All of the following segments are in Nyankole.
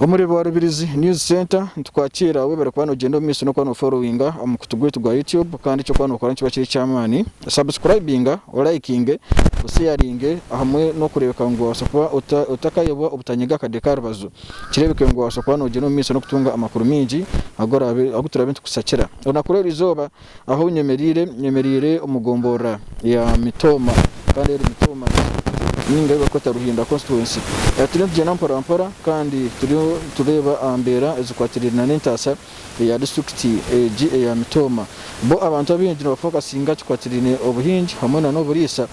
Omuri Rwa Rubirizi News Centre nitukwakiira webare kuba nogyenda omu maisho n'okuba noforowinga aha mukutu gwaitu gwa YouTube kandi eki orikuba nookora nikiba kiri eky'amaani sabusikurayibinga, olayikinge, osheyaringe hamwe n'okureebeka ngu waabaasa kuba otakayobwa obutanyega akade ka rubaju. Kireebeka ngu noobaasa kuba noogyenda omu maisho n'okutunga amakuru maingi agu turaabe nitukushakira. Olunaku rw'erizooba eizooba ahu nyemereire, nyemereire omu gomborora ya Mitooma kandi eri Mitooma ninga ei barikweta Ruhinda Constituency. Turiyo nitugyenda mporampora kandi turiyo nitureeba aha mbeera ezikwatiraine n'entaasa eya disiturikiti egi eya Mitooma. Bo abantu abaingi nibafokasinga aha kikwatiraine obuhingi hamwe nana oburiisa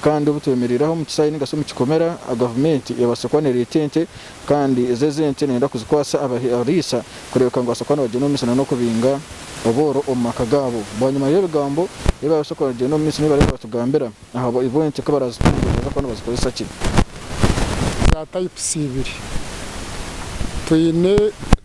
kandi obu twemereire aha omu kisaayi nari omu kikomera gavumenti ebaase kuba nereeta ente kandi ezo ezi ente neyenda kuzikwatsa abariisa kureebeka ngu nibabaasa kuba nibagyenda omu misiri nana okubinga obworo omu maka gaabo. Bwanyima y'ebigambo ebi baabaasa kuba nibagyenda omu misiri nibareeba nibatugambira aha bu ente ku barazitunga nibabaasa kuba nibazikozesa ki. Za tayipusi ibiri twine.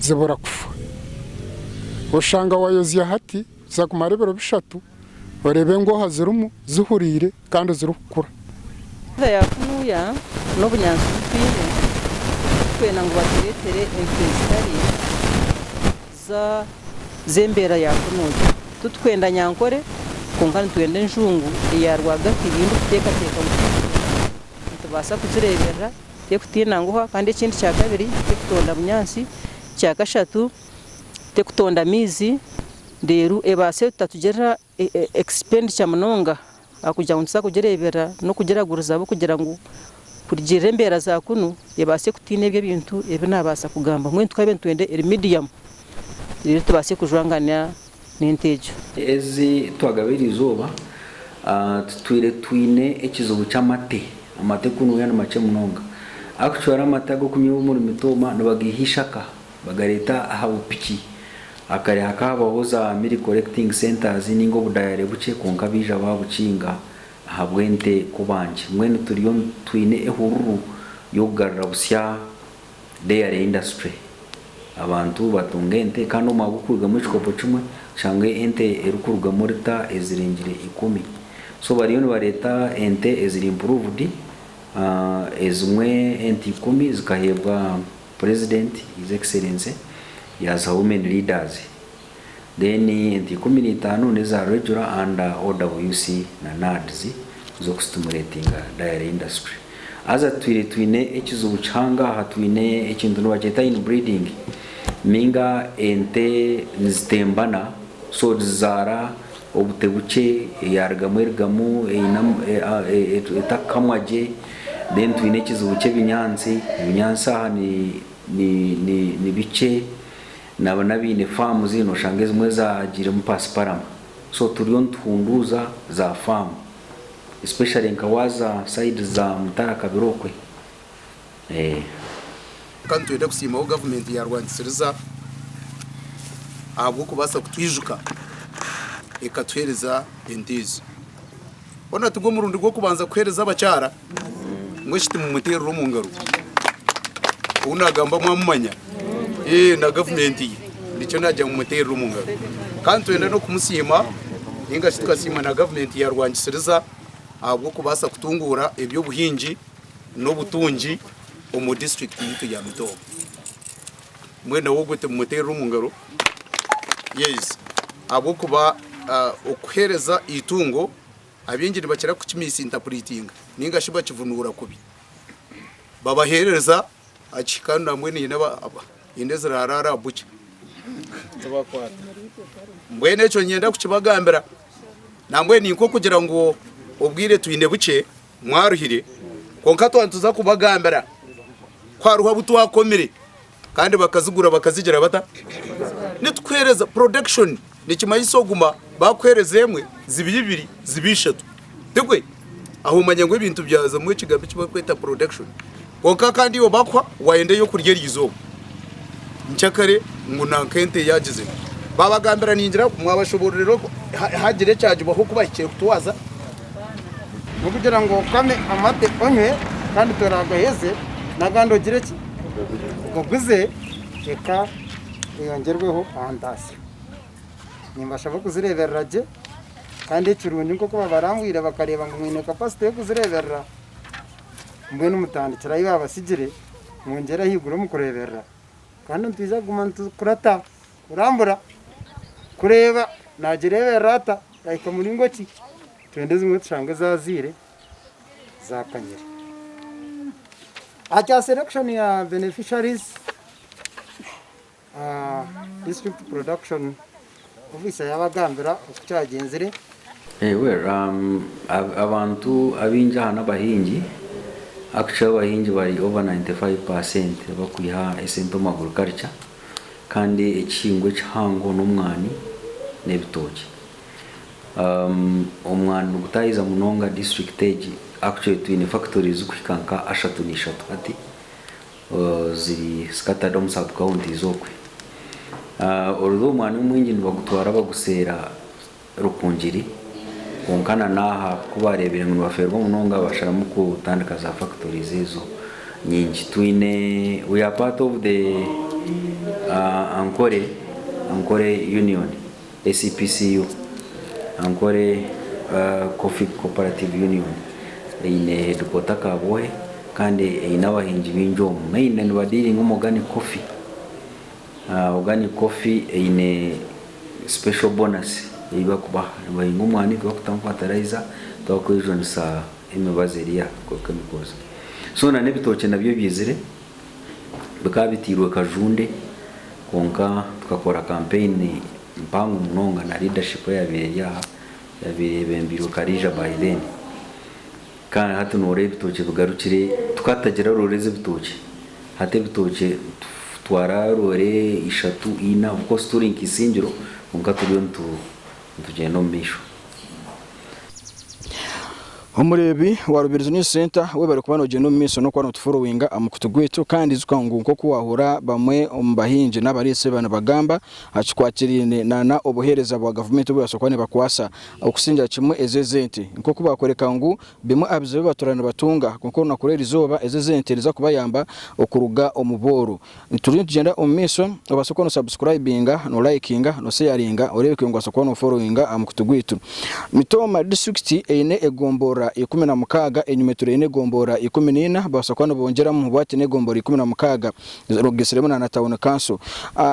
zibura kufa. Oshanga wayozya hati kuza kumara ebiro bishatu oreeba engooha zirimu zihuriire kandi zirikukura. Enshoda ya kunuya n'obunyaatsi obu twine, turikwenda ngu batureetere enshoda ezitari z'embeera ya kunuya. Titurikwenda nyankore kwonka nitwenda enjungu eya rwagati ei ndikuteekateeka ngu twihireho nitubaasa kuzireeberera. terikutinda nguha kandi ekindi kya kabiri terikutonda bunyaatsi, ekya kashatu terikutonda maizi reero ebaase kutatugirira expenditure munonga ahakugira ngu nituza kugireeberera n'okugiragurizaho kugira ngu kurugirira embeera za kunu ebaase kutiina ebyo ebintu ebi naabaasa kugamba mbwenu tukaba nitwenda eri medium reero tubaase kujwangana. n'ente egyo. Ezi twagaba eryo izooba tutwire twine ekizibu ky'amate. Amate kunuya ni makye munonga. Actually amate ag'okunywa omuri Mitooma nibageiha eishaka bagareeta aha bupiki. Hakare hakahabaho za milk collecting centres nainga obudayare bukye kwonka baija baabukinga ahabw'ente kubangye. Mbwenu turiyo twine ehururu y'okugarura butsya Dairy industry, abantu batunga ente kandi omwe ahabw'okurugamu ekikopo kimwe oshanga ente erikurugamu lita ezirengire ikumi. So bariyo nibareeta ente eziri improved, ezimwe ente ikumi zikaheebwa purezidenti, His Excellency, yaaziha women leaders. Then ente ikumi na itaano neza regular and OWC na NAADs zoku stimulatinga dairy industry. Haza tutwire twine ekizibu kihangaha twine ekintu nibakyeta in breeding ninga ente nizitembana so zizaara obute bukye eyarugamu erugamu etakukamwa gye then twine ekizibu kyebinyansi ebinyansi aha ni bikye Nabo n'abaine faamu zinu oshanga ezimwe zaagiiremu paasiparama so turiyo nituhunduuza za faamu especially nka waaza saidi za Mutara Kabira okwe eeh. Kwonka nitwenda kusiima ahu gavumenti yaarwanisiriza ahabw'okubaasa kutwijuka ekatuheereza ente ezo. Hoona tigwo murundi gw'okubanza kuheereza abakyara Mbwenu shi timumuteerera omu ngaro? Ou naagamba mwamumanya? Eeh na gavumenti ye, nikyo naagira ngu mumuteerere omu ngaro. Ka nitwenda n'okumusiima nainga shi tukasiima na gavumenti ya Rwangisiriza ahabw'okubaasa kutunguura eby'obuhingi n'obutungi omu disiturikiti yaitu ya Mutooga. Mbwenu nawe ogwo timumuteerere omu ngaro? Yes, ahabw'okuba okuheereza eitungo Abaingi nibakira kukimisintapureitinga nainga shi bakivunuura kubi. Babaheereza aha kihika nambwenu haine aba haine eziraaraara aha bucha zibakwata. Mbwenu ekyo niinyenda kukibagambira nambwenu ni nk'okugira ngu obwire twine bukye mwaruhire kwonka twatuza kubagambira ku hariho abu twakomire. Kandi bakazigura bakazigira bata? Nitukuhereza, production, nikimanyisa oguma bakuhereza emwe zibe ibiri zibe ishatu. Tigwe? Aho omanya ngu ebintu byazamu ekigambo eki barikweta production. Kwonka kandi iwe bakuha wayenda ey'okurya erizooba. Nkyakare ngu nanka ente yaagize eti. Baabagambira ningira ngu, Mwabashoboororera oku haagira ekyagibwaho oku bahikire kutwaza? N'okugira ngu okame amate onywe kandi toraagaheze, n'agandi ogire ki? Oguze eka eyongyerweho aha ntaasyo. Nimbashaba okuzireeberera gye kandi ekirungi nk'oku babarangwire bakareeba ngu mwine kapasite y'okuzireeberera, mbwenu mutandikire ahi baabatsigire mwongyere ahaiguru omu kureeberera. Kandi nitwija kuguma nitukurata kurambura kureeba naagireeberera ata. Ahika muringo ki? Twenda ezimwe tushange zaazaire zaakanyire. Ahakya selection ya beneficiaries, ah, district production officer yaabagambira oku kyagyenzire. Eh, well, um, ab, abantu abaingi aha n'abahingi. Actually abahingi bari over 95 per cent bakwiha esente omu agriculture. Kandi ekihingwa ekihango n'omwani n'ebitookye. Omwani nigutaahiza munonga disiturikiti egi. Actually twine fakitori zirikuhika nka ashatu naishatu hati ziri scattered omu sub kawunti okwe. Although omwani omwingi nibagutwara baguseera. Rukungiri, kwonka na n'aha ku baareebire ngu nibafeerwa munonga basharamu kutandika za factories ezo nyingi. Twine we are part of the Ankore Ankore Union, ACPCU, Ankore Coffee Cooperative Union eine headquarter Kabwohe kandi eine abahingi baingi omu, mainly nibadealinga omu organic coffee. Organic coffee eine special bonus eyi bakubaha nibahinga omwani tibakutamu fertilizer tibakwejunisa emibazi eri aha ahabwa chemicals so na n'ebitookye nabyo ebyizire bikaba bitairwe kajunde kwonka tukakora campaign mpango munonga na leadership eyabaire eri aha eyabaire eyebembirwe Karija by then. Kandi hati noora ebitookye bigarukire tukatagira roore z'ebitookye hati ebitookye nitutwara roore ishatu ina of course turi nka isingiro kwonka turiyo nitugyenda omu maisho. Omureebi wa Rubirizi News Centre webare kuba nogyenda omu maisho n'okuba notuforowinga aha mukutu gwaitu kandi ijuka ngu nk'oku waahura bamwe omu bahingi n'abareetsi ba nibagamba kikwatiraine na na obuheereza bwa gavumenti obu barabaasa kuba nibakwasa Okusingira kimwe ezo ez'ente. Nk'oku baakworeka ngu bimwe aha bizibu ebi batuura nibatunga, kwonka orunaku rw'erizooba ezo ez'ente niziza kubayamba okuruga omu bworo. Turiyo nitugyenda omu maisho, obaase kuba no subscribinga, no likinga, no seyaringa oreebe ku nobaasa kuba no followinga aha mukutu gwaitu. Mitooma disiturikiti eine egomborora ikumi na mukaaga, enyuma eturi eine egomborora ikumi na ina, babaasa kuba nibongyeramu bwati n'egomborora ikumi na mukaaga. Rogisiremu na Tawuni Kanso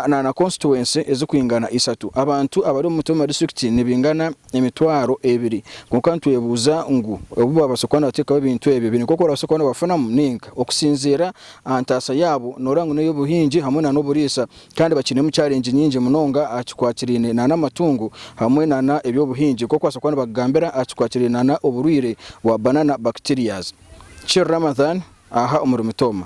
na konsituwensi ezirikwingana ishatu. Abantu abari omu mutwe mu madisiturikiti nibaingana emitwaro ebiri. Kwonka nitwebuuza ngu obu baabaasa kuba nibateekaho ebintu ebyo, baine nk'oku barabaasa kuba nibafunamu ninga? Okusinziira aha ntaasa yaabo, nooreeba ngu n'ey'obuhingi hamwe n'oburiisa kandi bakiinemu charengi nyingi munonga aha kikwatiraine n'amatungo hamwe n'eby'obuhingi nk'oku baabaasa kuba nibakugambira aha kikwatiraine n'oburwaire bwa Banana Bacterias. Chir Ramadhan aha omuri Mitooma.